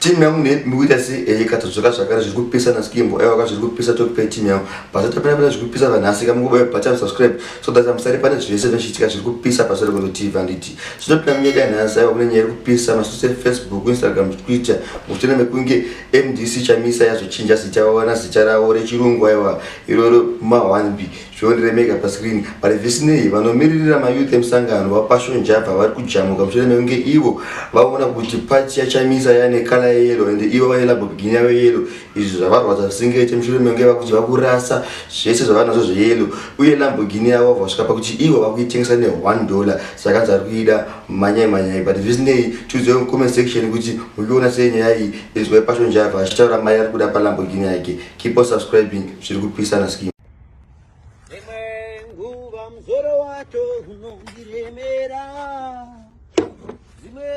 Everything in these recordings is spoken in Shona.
Team yangu ne mukuita si eh katodzoka zvakare zviri kupisa na skimbo aiwa ka zviri kupisa talk pay team yangu basa tapera pera zviri kupisa vanhu asika mukubaya bhacha subscribe so that amusari pane zvese zvichitika zviri kupisa basa rekuno TV anditi so tapera munyika yanhasi aiwa kune nyaya iri kupisa masose Facebook Instagram Twitter mutene mekunge MDC chamisa yazochinja zita wana zita rawo rechirungu aiwa iroro ma 1 big zviondiremeka pascreen but zvisinei vanomiririra mayouth emusangano vapassion java vari kujamuka mushure mekunge ivo vaona kuti pati yachamisa yane kala yeyelo and ivo vane labobigini yavo yeyelo izvi zvavarwadza zvisingaite mushure mekunge vakuti vakurasa zvese zvavanazvo zveyelo uye lambogini yavo vasvika pakuti ivo vakuitengesa ne one dollar sakanzi ari kuida manyai manyai but zvisinei tiudzai mucomment section kuti muchiona sei nyaya iyi inzwai passion java achitaura mari ari kuda palambogini yake keep on subscribing zviri kupisana skin Imwe nguva mzoro wacho unondiremera Dzimwe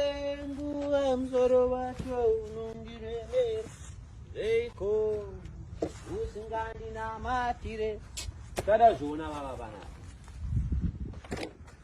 nguva mzoro wacho unondiremera Reiko usingandinamatire Tada zviona vava vanaka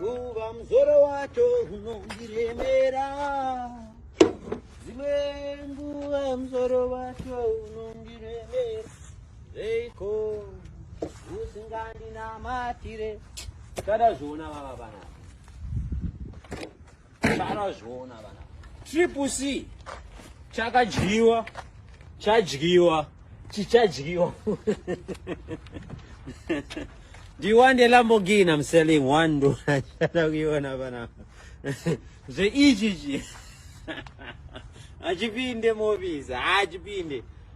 nguva mzoro wacho unondiremera dzimwe nguva mzoro wacho unondiremera reiko usingandinamatire kada zviona vava vanaa Vanozviona vana. Triple C chakadyiwa chadyiwa chichadyiwa. Do you want a Lamborghini? I'm selling one door. Chatakuiona vana. Zveichichi. Achipinde mobiza, achipinde.